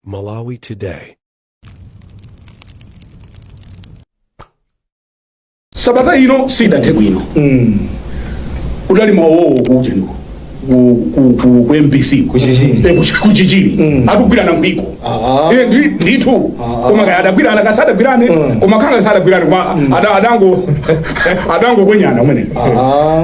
Malawi Today. sabata ino sidathe bwino udali mawowo kuja ndiko ku- ku- ku- ku mbc Kuchichiri. Eh, kuchi- kuchichiri akugwirana mpiko Ah. Eh, ndi- ndithu koma kaya adagwirana kasi adagwirane koma khanga sadagwirane koma ada- adango adangokwenyana umene Ah.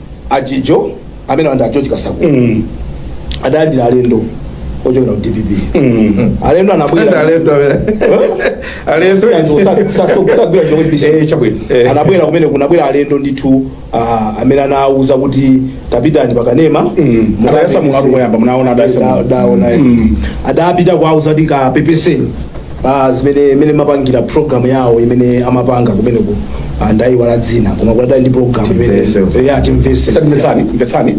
ajijo amene Wanda a George kasakula Mm. adalandira alendo ochokera ku dpp Mm. alendo Ee anabwera alendo amene. Alendo. osagwira chomwe Eh, basi chabwino. Eh. anabwera kumene kunabwera alendo ndithu ah, amene anawuza kuti tapitani pakanema Mm. Mukapepese. Adayesa mulandu woyamba, munaona adayesa Da- mulandu. daona, eh. Mm. adapita kuwauza kuti kapepeseni ah, zimene mmene amapangira program yawo imene amapanga kumeneko ah, ndayiwala dzina koma kudali ndi program imene Timvese uza. ya timvese Sasa mvetsani mvetsani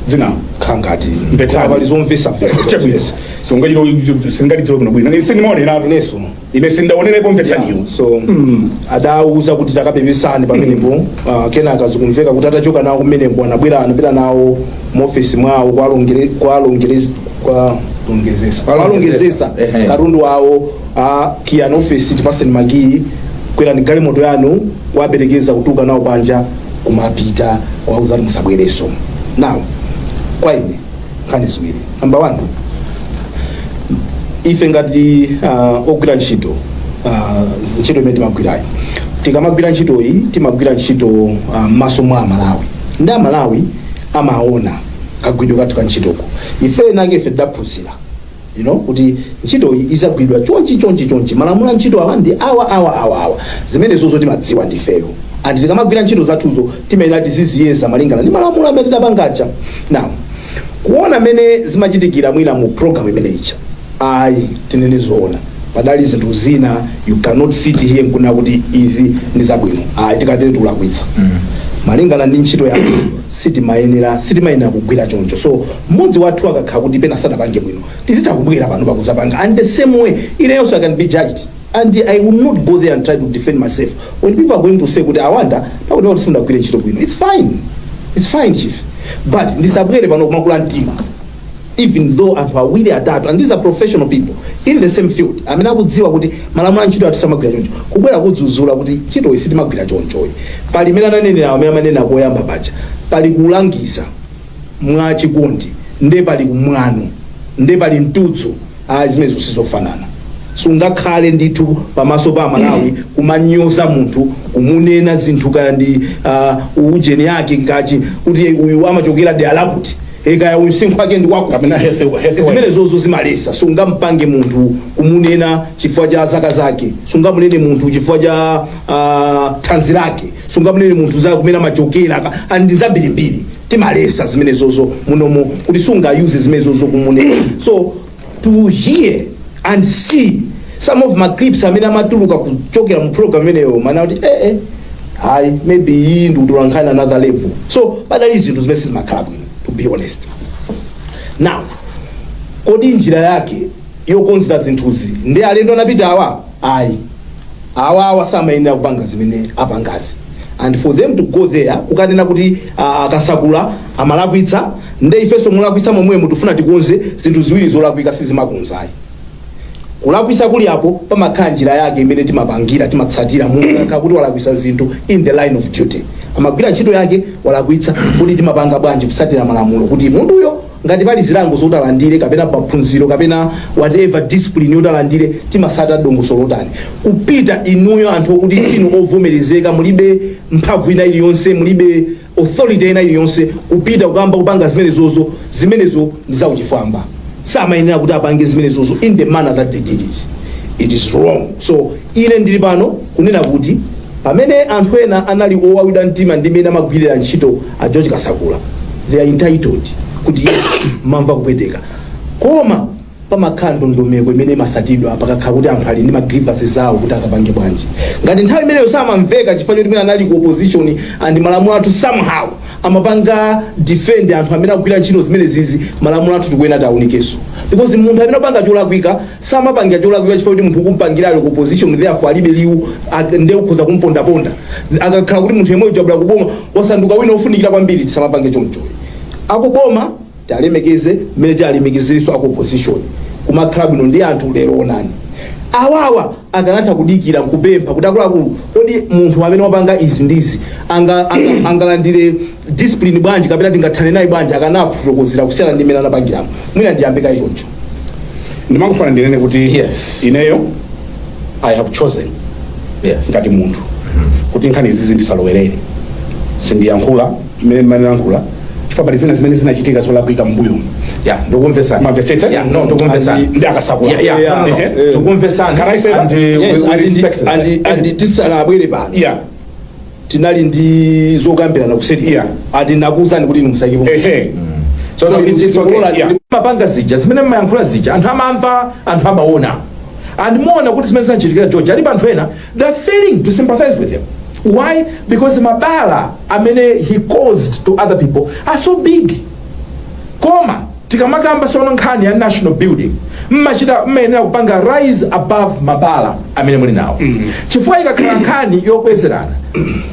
dzina khangati Mvetsani. pali zomvesa vesa so ngati ilo sindikulikumbuka bwino sindimaonera ineso ine sindaonerepo mvetsaniyo so adawuza kuti takapepesani pamenepo ah, kenaka zikumveka kuti atachoka nawo kumeneko anabwera anapita nawo mu ofesi mwawo kuwalonge- kwalongere- kuwalongedzetsa Kuwalongedzetsa. kuwalongedzetsa Ehe. katundu wawo akiyani ofesi tipatseni makiyi kwerani galimoto yanu kuwaperekeza kutuluka nawo panja kumapita kuwauza kuti musabwerenso now kwa ine nkhani ziwiri namba one ife ngati uh, ogwira ntchito uh, ntchito imene timagwirayi tikamagwira ntchitoyi timagwira ntchito uh, m'maso mwa amalawi ndi amalawi amaona kagwiridwe kathu ka ntchitoko ife nanga ife tidaphunzira you know kuti ntchito iyi izigwiridwa chonchi chonchi chonchi malamulo a ntchito awa ndi awa awa awa awa zimenezo zo timazidziwa ndifeyo and tikamagwira ntchito zathuzo timayenera tiziziyeza malingana ndi malamulo amene tidapangaja now kuona mmene zimachitikira mwina mu program imene ija ayi tinene zoona padali zinthu zina you cannot sit here nkunena kuti izi ndi zabwino ayi tikatero tikulakwitsa malingana ndi ntchito yako sitimayenera sitimayenera kugwira choncho so mmodzi wathu akakhala kuti pena sanapange bwino tizitha kubwera pano kuwuza apanga and the same way ineyonso i can be judged and i will not go there and try to defend myself when people are going to say kuti awanda pakutipakuti simunagwire ntchito bwino it's fine it's fine chief but ndisabwere pano kumakula mtima even though anthu awiri atatu and these are professional people in the same field amene akudziwa kuti malamulo a ntchito ati samagwira choncho kubwera kudzuzula kuti ntchitoyi sitimagwira chonchoyi pali imene ananenera amene amanena koyamba paja pali kulangiza mwa chikondi nde paliko mwano nde pali mtudzo ayi zimenezo sizofanana sungakhale ndithu pamaso pa amalawi kumanyoza munthu kumunena zinthu kaya ndi uh, ujeni yake ngati kuti uyu amachokera dera lakuti e kaya msinkhu wake ndi wakuti kapena health health wise zimenezozo zimaletsa sungampange munthu kumunena chifukwa cha zaka zake sungamunene munthu chifukwa cha uh, thanzi lake sungamunene munthu za kumene amachokera ka- ah, ndi zambirimbiri timaletsa zimenezozo munomo kuti sungayuze zimenezozo kumunena so to hear and see some of ma clips amene amatuluka kuchokera mu program imeneyo mmanena kuti eh eh hayi maybe iyi ndi utolankhani another level so padali zinthu zimene sizimakhala bwino to be honest now kodi njira yake yokonzera zinthuzi ndi alendo anapita awa ayi awawa samayenera kupanga zimene apangazi and for them to go there kukanena kuti ah, a Kasakula amalakwitsa nde ifenso mulakwitsa momwemo tikufuna tikonze zinthu ziwiri zolakwika sizimakonza ayi kulakwisa kuli apo pamakhala njira yake imene timapangira timatsatira munthu kuti walakwisa zinthu in the line of duty amagwira ntchito yake walakwitsa kuti timapanga bwanji kutsatira malamulo kuti munthuyo Ngati pali zilango zot'alandire kapena maphunziro kapena whatever discipline yot'alandire timasata dongosolo lotani kupita inuyo anthu okuti sinu ovomerezeka mulibe mphamvu ina iliyonse mulibe authority ina iliyonse kupita kukamba kupanga zimenezozo zimenezo ndi zauchifwamba samayenera kuti apange zimenezozo in the manner that they did it it is wrong so Ine ndili pano kunena kuti pamene anthu ena anali owawidwa mtima ndi mmene amagwirira ntchito a George Kasakula, they are entitled kuti yes, mamva kupweteka. Koma pamakhala ndondomeko imene imasatidwa pakakhala kuti anthu ali ndi ma grievances zawo kuti akapange bwanji. Ngati nthawi imeneyo samamveka chifukwa choti mwina anali ku opposition and malamulo athu somehow amapanga defend anthu amene akugwira ntchito zimenezizi malamulo athu tikuyenera tiawunikenso. Because munthu amene apanga cholakwika samapangira cholakwika chifukwa kuti munthu ukumpangira ali ku opposition therefore alibe liwu ak- nde ukhoza kumpondaponda akakhala kuti munthu yemweyo wabwera kuboma wasanduka wina ofunikira kwambiri tisamapange choncho akuboma tialemekeze mmene tialemekezerenso aku opposition kumakhala bwino ndi anthu lero onani awawa akanatha kudikira nkupempha kuti akuluakulu kodi munthu amene wapanga izi ndizi anga- anga- angalandire discipline bwanji kapena tingathane naye bwanji akanakufotokozera kusiyana ndi mmene anapangiramo mwina ndiyambe kaye choncho ndimangofuna ndinene kuti Yes. ineyo i have chosen yes ngati munthu kuti nkhani izizi ndisalowerere sindiyankhula mmene ndimayankhula chifukwa pali zina zimene zinachitika zolakwika m'mbuyo ya ndikumvesa Mwamvetsetsa? ya no ndikumvesa Andi- ndi a Kasakula. ya ya Yeah. no, no, Yeah. no. ndikumvesa Can I say that? and uh, Yes, we, we and- respect that. and- and tisanabwere pano yeah tinali ndi zokambirana kuseri ya ati nakuuzani kuti inu musaikepo ehe tsono kuti it's okay Kulola iya ndi- mapanga zija zimene mmayankhula zija anthu amamva anthu amaona and muona kuti zimene zinachitikira George alipo anthu ena they're failing to sympathize with him why because mabala amene he caused to other people are so big koma tikamakamba sono nkhani ya national building mmachita mmayenera kupanga rise above mabala amene muli nawo chifukwa ikakhala nkhani yobwezerana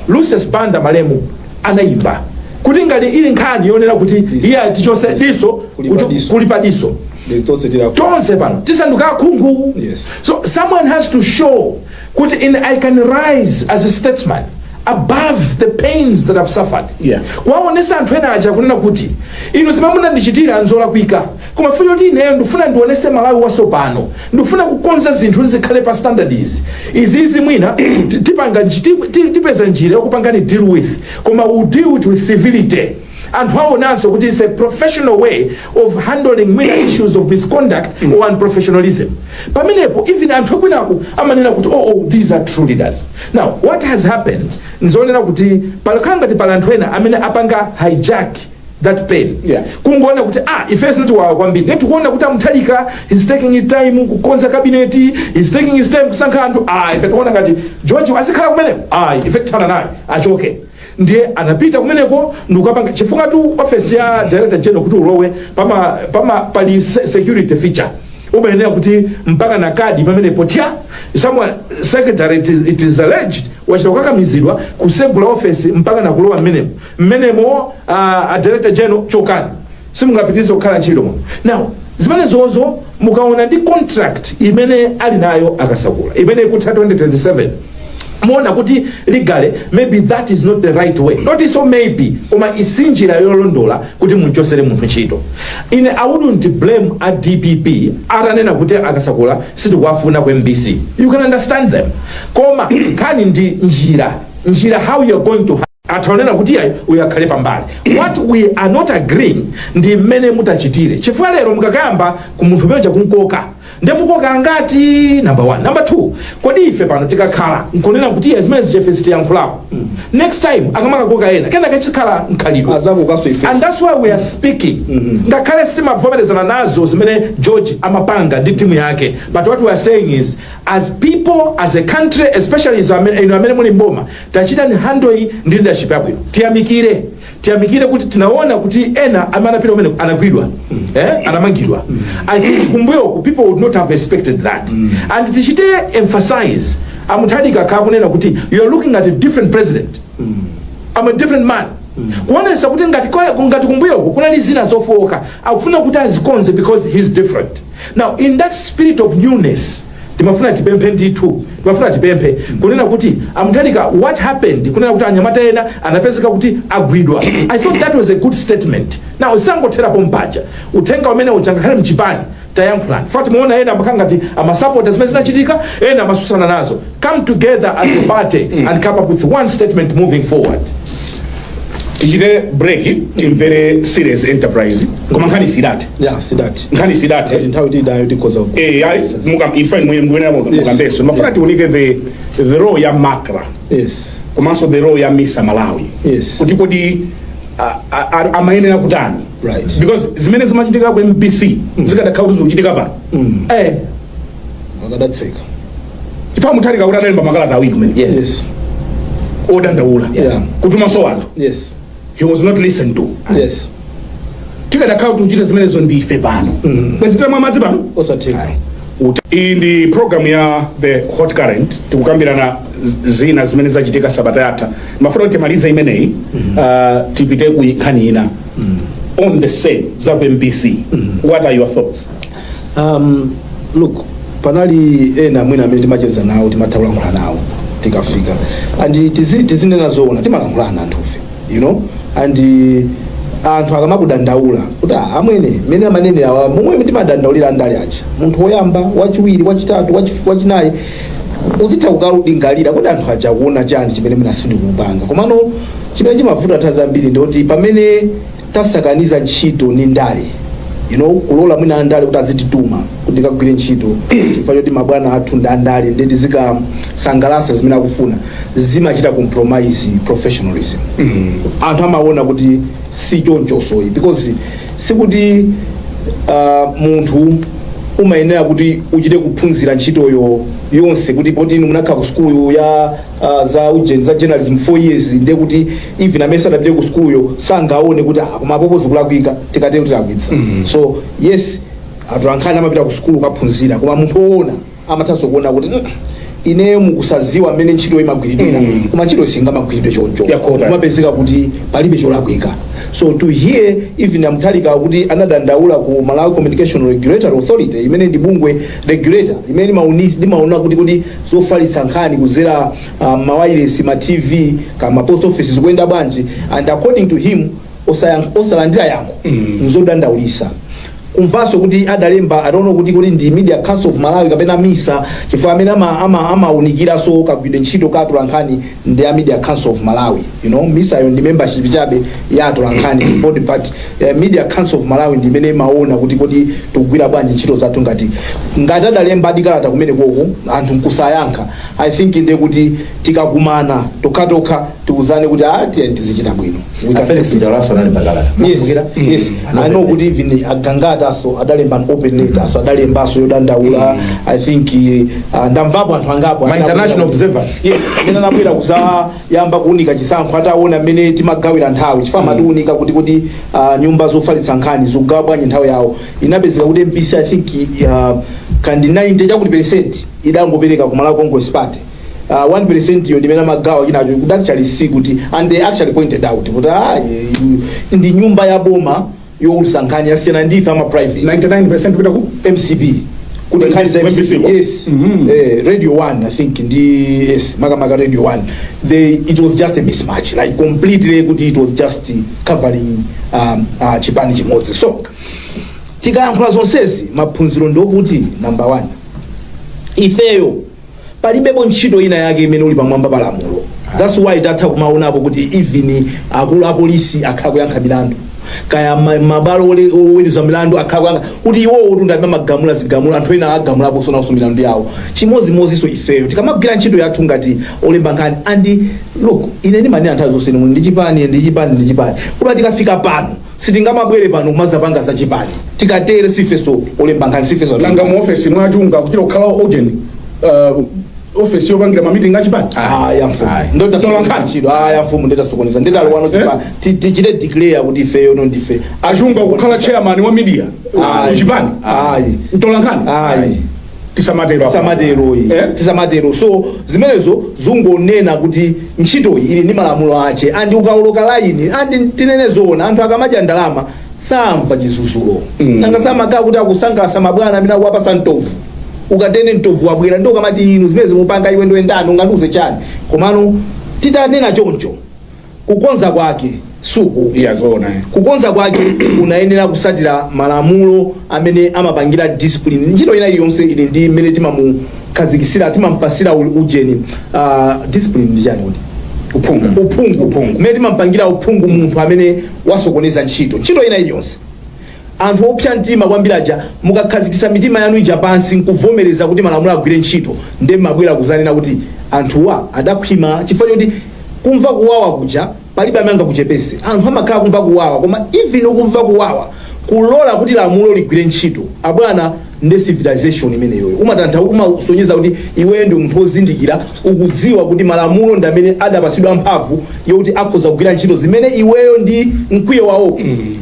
lucius banda malemu anayimba kuti ngati ili nkhani yonena kuti iyi tichotse diso Kulipa kucho- diso. kulipa diso There's those that are- tonse pano tisanduka akhungu Yes. so someone has to show kuti ine i can rise as a statesman above the pains that i've suffered Yeah. kuwaonesa anthu ena aja kunena kuti inu zimene munandichitira nzolakwika koma futi kuti ineyo ndikufuna ndionese malawi wasopano ndikufuna kukonza zinthu zikhale pa standards izi izizi mwina ti- tipanga nji- ti- ti- tipeza njira yokupangani deal with koma we deal with it with civility anthu awonanso kuti is a professional way of handling many issues of misconduct or unprofessionalism pamenepo even anthu akwinaku amanena kuti oh, oh these are true leaders now what has happened nzonena kuti palakhala ngati pali anthu ena amene apanga hijack that pain Yeah. kungoona kuti ah ife zitiwawa kwambiri ne tikuona kuti a mutharika is taking his time kukonza cabinet is taking his time kusankha anthu ah ife tikuona ngati george azikhala kumeneko ah ife tithana naye achoke Ndiye anapita kumeneko ndikukapanga chifukwa tu office ya director general kuti ulowe pama pama pali se- security feature umayenera kuti mupange na kadi pamenepo tya someone secretary it is, it is alleged wachita kukakamizidwa kutsegula office mpaka na kulowa mmenemo mmenemo uh, a director general chokani simungapitilize kukhala ntchito muno now zimenezozo mukaona ndi contract imene ali nayo a kasakula imene ikutha 2027 muona kuti legally maybe that is not the right way not so maybe koma si njira yolondola kuti mumchotsere munthu ntchito ine i wouldn't blame a dpp atanena kuti a kasakula sitikuwafuna ku mbc you can understand them koma nkhani ndi njira njira how you're going to anthu anena kuti iyayi uyu akhale pambali what we are not agreeing ndi mmene mutachitire chifukwa lero mukakayamba ku munthu amene uja kumkoka nde mukoka angati number one number two kodi ife pano tikakhala nkunena kuti iyayi zimenezi ifeyo sitiyankhulapo next time akamakakoka ena ena kachikhala mkhalidwe azatikokanso ife and that's why we are speaking ngakhale sitimavomerezana nazo zimene george amapanga ndi timu yake but what we are saying is as people as a country especially izo amene- inu amene muli m'boma Tachitani handle iyi ndi leadership yabwino. Tiyamikire. Tiyamikire kuti tinaona kuti ena amene anapita kumeneko anagwidwa. Eh? Anamangidwa. I think kumbuyo ku people would not have expected that. And tichite emphasize a Mutharika akunena kuti you are looking at a different president. I'm a different man. kuonesa kuti ngati kwa- ngati kumbuyo uko kunali zina zofowoka akufuna kuti azikonze because he's different now in that spirit of newness timafuna tipemphe ndithu timafuna tipemphe kunena kuti a mutharika what happened kunena kuti anyamata ena anapezeka kuti agwidwa i thought that was a good statement now usangothera pompaja uthenga umene uja ngakhale mchipani tayankhulani chifukwa timaona ena amakhala ngati amasapota zimene zinachitika ena amatsutsana nazo come together as a party and come up with one statement moving forward tichite break timvere serious enterprise koma nkhani sidathe ya sidathe nkhani sidathe ngati nthawi tili nayo tikhoza ku- eh ayi muka in fact mwe mwe mukambenso mafuna tiunike the the role ya macra yes komanso the role ya misa malawi Yes. kuti kodi a- a- a- amayenera kutani Right. because zimene zimachitika ku mbc zikadakhala kuti zikuchitika pano eh akadatseka chifukwa mutharika kuti adalemba makalata awiri kumene Yes. odandaula Yeah. kutumanso anthu Yes. he was not listened to Yes. zikadakhala kuti akuchita zimenezo ndi ife pano bwezi tamwa madzi pano Osatheka. Uti- iyi ndi programu ya the hot current tikukambirana z- zina zimene zachitika sabata yatha mafuna kuti timalize imeneyi uh, tipite ku nkhani ina on the same za ku mbc what are your thoughts Um, look panali ena mwina amene timacheza nawo timatha kulankhula nawo tikafika and tizi- tizinena zoona timalankhulana anthufe you know and uh, anthu akamakudandaula kuti "Ah, amwene mmene amanenera awa momwe timadandaulira andale aja munthu woyamba wachiwiri wachitatu wachi- wachinayi uzitha kukalingalira kuti anthu aja akuona chani chimene mwina sindikupanga komano chimene chimavuta nthawi zambiri ndikuti pamene tasakaniza ntchito ndi ndale you know kulola mwina andale kuti azitituma kuti tikagwire ntchito chifukwa choti mabwana athu ndi andale nde tizikasangalatsa zimene akufuna zimachita compromise professionalism anthu amaona kuti si chonchonso ayi because sikuti uh, munthu umayenera kuti uchite kuphunzira ntchitoyo yonse kuti poti inu munakhala ku sukulu ya uh, za ujeni za journalism 4 years ndiye kuti even amene sadapite ku sukuluyo sangaone kuti ah, koma apopo zikulakwika tikatero tilakwitsa so yes anthu ankhani amapita ku sukulu kukaphunzira koma munthu woona amathanso kuona kuti "Mm, ineyo mukusadziwa mmene ntchito imagwiridwira Mm. koma ntchito singamagwiridwe choncho Yeah, correct. kumapezeka kuti palibe cholakwika so to hear even a mutharika kuti anadandaula ku malawi communication regulatory authority imene ndi bungwe regulator limene limauni- limaona kuti kodi zofalitsa nkhani kudzera uh, mawayilesi ma tv kaya ma post office zikuyenda bwanji and according to him osayan- osalandira yankho nzodandaulitsa kumvanso kuti adalemba i don't know kuti kuti ndi media council of malawi kapena misa chifukwa amene ama- ama- amaunikiranso kagwiridwe ntchito ka atolankhani ndi a Media Council of Malawi you know MISA yo ndi membership chabe ya atolankhani mm. body but uh, Media Council of Malawi ndi imene imaona kuti kodi tikugwira bwanji ntchito zathu ngati ngati adalembadi kalata kumenekoko anthu nkusayankha I think ndi kuti tikakumana tokhatokha tiuzane kuti ah tiye tizichita bwino We can Felix Njawalaso anali pakalata. yes yes i know kuti even a Gangataso adalemba an open letter aso adalemba aso yodandaula i think uh, ndamvapo anthu angapo Ma international observers. yes amene anabwera kuzayamba kuunika chisankho ataona mmene timagawira nthawi chifukwa amatiunika kuti kuti ah, nyumba zofalitsa nkhani zikugawa bwanji nthawi yawo inapezeka kuti mbc i think uh, kaya ndi 90 chakuti percent idangopereka ku malawi congress party Uh, 1% yo ndimene amagawa chinacho kuti actually see kuti and they actually pointed out kuti ah, eh, ndi nyumba ya boma youlusa nkhani yasiyana ndi ife ama private 99% kupita ku mcp kuti nkhani za mcp. yes Mhm. eh, radio 1 i think ndi yes makamaka radio 1 they it was just a mismatch like completely kuti it was just uh, covering um, uh, chipani chimodzi so tikayankhula zonsezi maphunziro ndiokuti number 1 ifeyo palibepo ntchito ina yake imene ili pamwamba pa lamulo thats why titha kumaonapo kuti even akulu apolisi akhala akuyankha milandu kaya ma- mabwalo ole- oweruza milandu akhala akuyankha kuti iwowo kuti ndi amene amagamula zigamulo anthu ena agamulaponso nawonso milandu yawo chimodzimodzinso ifeyo tikamagwira ntchito yathu ngati olemba nkhani and look ine ndimanena nthawi zonse inu muli ndi chipani ndi chipani ndi chipani koma tikafika pano Sitingamabwere pano kumazapanga za chipani tikatere sifeso olemba nkhani sifeso nanga mu office mwa Chunga kuchira kukhala agent uh, office yopangira ma meeting achipani ayi amfumu nde Tola tasokoneza nkhani. ntchito ayi amfumu nde tasokoneza nde talowano chipani Ti- tichite declare kuti ifeyo no ndife a Chunga kukhala chairman wa media Ayi. chipani Ayi. mtolankhani Ayi. tisamatero tisamatero iyi Eh? tisamatero so zimenezo zungonena kuti ntchitoyi ili ndi malamulo ache andi ukaoloka laini andi tinene zoona anthu akamadya ndalama samva chizuzulo Mm. nanga si amakhala kuti akusangalasa mabwana amene akuwapasa mtovu ukatene mtovu wabwera nde ukamati inu zimene mukupanga iwe nde ndani ungandiuze chani komano titanena choncho Kukonza kwake suku iya zoona eh. Kukonza kwake unayenera kusatira malamulo amene amapangira discipline ntchito ina iliyonse ili ndi mmene timamukhazikisira timampasira u- ujeni uh, discipline ndi chani kuti uphungu uphungu Uphungu. mmene timampangira uphungu munthu amene wasokoneza ntchito ntchito ina iliyonse Anthu opsa mtima kwambiri aja mukakhazikitsa mitima yanu ija pansi nkuvomereza kuti malamulo agwire ntchito nde mmabwera kuzanena kuti anthuwa adakhwima chifukwa choti kumva kuwawa kuja palibe amene angakuchepese. Anthu amakhala akumva kuwawa koma even ukumva kuwawa kulola kuti lamulo ligwire ntchito abwana nde civilization imeneyoyo umasonyeza kuti iweyo ndiwe munthu wozindikira ukudziwa kuti malamulo ndi amene adapatsidwa mphamvu yokuti akhoza kugwira ntchito zimene iweyo ndi mkwiyo wako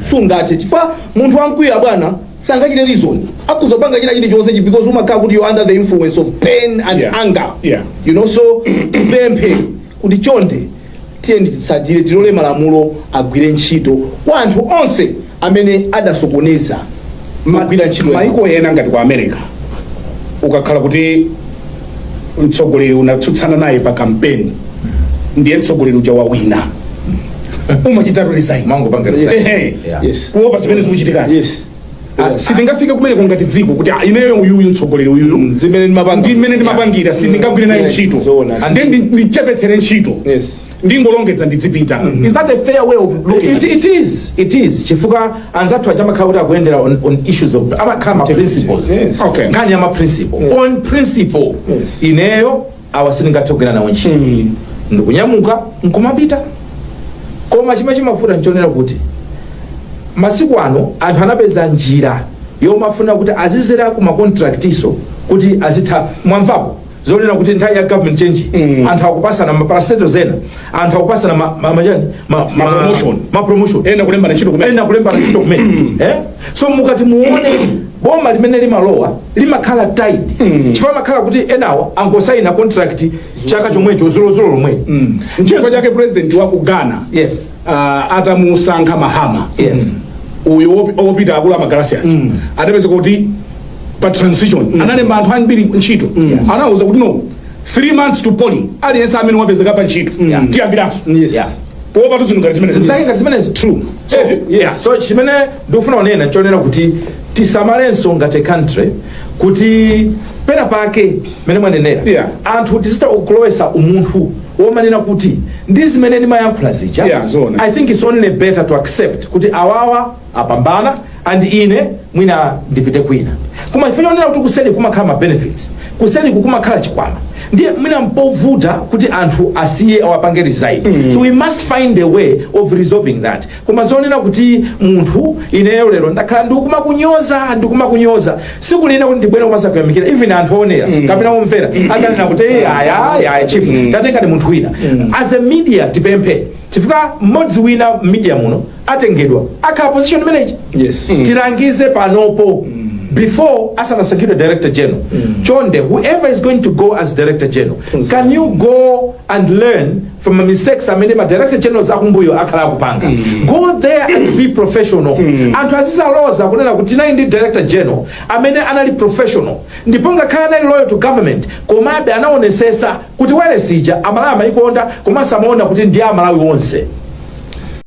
sungathe chifukwa munthu wamkwiyo abwana sangachite reason akhoza kupanga china chilichonse chi- because umakhala kuti you're under the influence of pain and Yeah. anger Yeah. you know so tipemphe kuti chonde Tiyeni titsatire, tilole malamulo agwire ntchito kwa anthu onse amene adasokoneza magwira ntchito yawo. maiko ena ngati kwa america ukakhala kuti mtsogoleri unatsutsana naye pa kampeni ndiye mtsogoleri uja wawina umachitatu resign Mangopanga resign. Ehe. Yeah. Yes. kuopa zimene zikuchitikazi Yes. Ah, sitingafike kumeneko ngati dziko kuti ah, ineyo uyuyu mtsogoleri uyuyu mm, zimene ndimapanga- ndi mmene ndimapangira sindingagwire naye Yeah, ntchito zoona. and then ndi- ndichepetsere ntchito Yes. ndingolongedza ndizipita is that a fair way of looking at It, it? it is it is chifukwa anzathu aja amakhala kuti akuyendera on, on issues of amakhala ma principles Yes. Okay. nkhani ya ma principle on principle Yes. ineyo awa sindingathe kugwira nawo ntchito Mm. ndikunyamuka nkumapita koma chimene chimavuta nchonena kuti masiku ano anthu anapeza njira yomafuna kuti azidzera ku makontraktinso kuti azitha mwamvapo zonena kuti nthawi ya government change Mm. anthu akupatsana maparastato zena anthu akupatsana ma, ma, ma, chani? ma, ma, Ma promotion. ma promotion ena kulembana ntchito kumene ena kulembana ntchito kumene eh? so mukati muone boma limene limalowa limakhala tied chifukwa amakhala kuti enawo angosaina contract chaka chomwecho dzulodzulo lomwe nchifukwa chake president wa ku ghana yes ah, atamusankha mahama Yes. uyu wopi- wopita akulu amagalasi aja adapeza kuti pa transition analemba anthu ambiri ntchito anawuza kuti no 3 months to polling aliyense amene wapezeka pa ntchito Yeah. tiyambiranso Yes. Yeah. kuopatu zinthu ngati zimene zake ngati zimene is true so, Eh, yes. yeah. so chimene ndikufuna kunena chonena kuti tisamalenso ngati country kuti pena pake mmene mwanenera Yeah. anthu tizitha kulowetsa umunthu womanena kuti ndi zimene ndimayankhula zija Yeah, zoona. i think it's only better to accept kuti awawa apambana and ine mwina ndipite kwina koma chifukwa chonena kuti kuseri kumakhala ma benefits kuseri kukumakhala chikwama ndiye mwina mpovuta kuti anthu asiye awapange resign mm. so we must find a way of resolving that koma zonena kuti munthu ineyo lero ndakhala ndikumakunyoza ndikumakunyoza siku lina kuti ndibwere kumadzakuyamikira even anthu onera mm. kapena omvera adzanena kuti "Eh, aya aya aya chief mm. tatengani munthu wina mm. as a media tipemphe chifukwa mmodzi wina media muno atengedwa akhala position imeneyi Yes. Mm. tilangize panopo before asanasankhidwe director general chonde whoever is going to go as director general can you go and learn from the mistakes amene ma director generals akumbuyo akhala akupanga go there and be professional anthu azizaloza kunena kuti tinali ndi director general amene anali professional ndipo ngakhale anali loyal to government komabe anaonesesa kuti wailesi ya amalawi amayikonda komanso amaona kuti ndi amalawi onse